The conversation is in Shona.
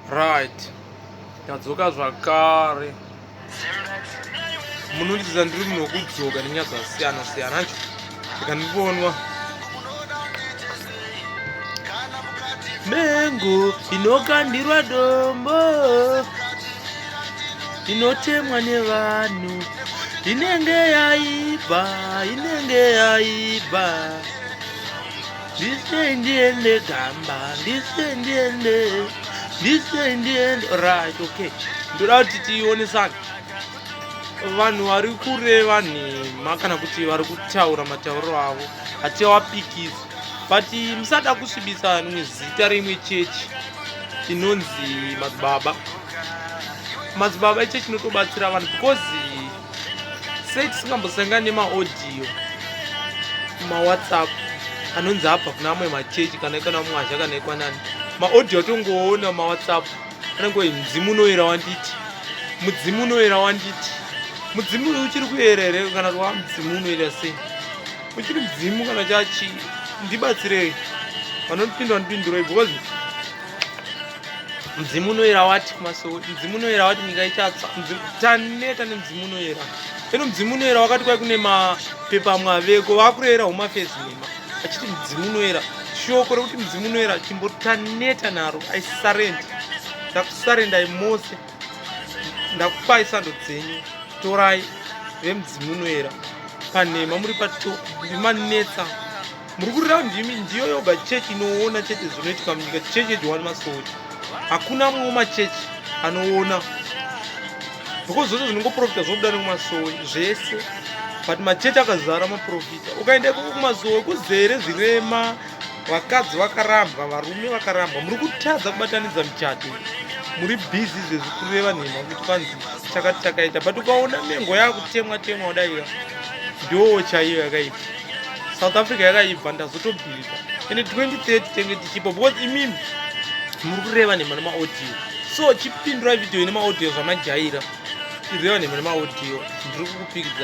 Right. Tadzoka zvakare. Munondiziva ndiri munhu wekudzoka nenyaya dzakasiyana siyana ancho ndikandibonwa mengo inokandirwa dombo inotemwa nevanhu inenge yaibva inenge yaibva ndise ndiende gamba ndise ndiende ndise ndiende right okay ndoda kuti tionesana vanhu vari kureva nhema kana kuti vari kutaura matauriro avo hatiawapikisi but musada kusvibisa rimwe zita reimwe chechi inonzi madzibaba madzibaba ichechi inotobatsira vanhu because sei tisingambosangani nemaaudio mawhatsapp anonzi abva kuna amwe machechi kana ikana mwazha kana ikwanani maaudio atongoona mawhatsapp anenge oi mudzimu unoyera wanditi mudzimu unoyera wanditi mudzimu uyu uchiri kuyera here kana kuti wa mudzimu unoyera sei uchiri mudzimu kana chachi ndibatsirei vanondipindwa ndipinduroi because mudzimu unoyera wati kumasowe mudzimu unoyera wati nyika ichatsva taneta nemudzimu unoyera eno mudzimu unoyera wakati kwai kune mapepa amwe aveko vakureyera humafezi nhema achiti mudzimu unoyera shoko rekuti mudzimu unoyera chimboti taneta naro i surrend ndakusarendai mose ndakupai sando dzenyu torai vemudzimu unoyera panhema muri pato ndimanetsa muri kurira ndimi ndiyo yoga chechi inoona chete zvinoitika munyika chechi yejowani masoti hakuna mumwe machechi anoona because zvose zvinongoprofita zvobuda nekumasowe zvese but machechi akazara maprofita ukaenda ikoko kumasowe kuzere zvirema vakadzi vakarambwa varume vakarambwa muri kutadza kubatanidza michato muri bhizi zvezvi kureva nhema kuti kwanzi chakati takaita but ukaona mengo yakutemwa temwa udaira ndoo chaiyo yakaita south africa yakaibva ndazotobhilivha ende 2030 tenge tichipo because imimi muri kureva nhema nemaaudio so chipindurai video ine maaudio zvamajaira ireva nhema nemaaudio ndiri kukupikidza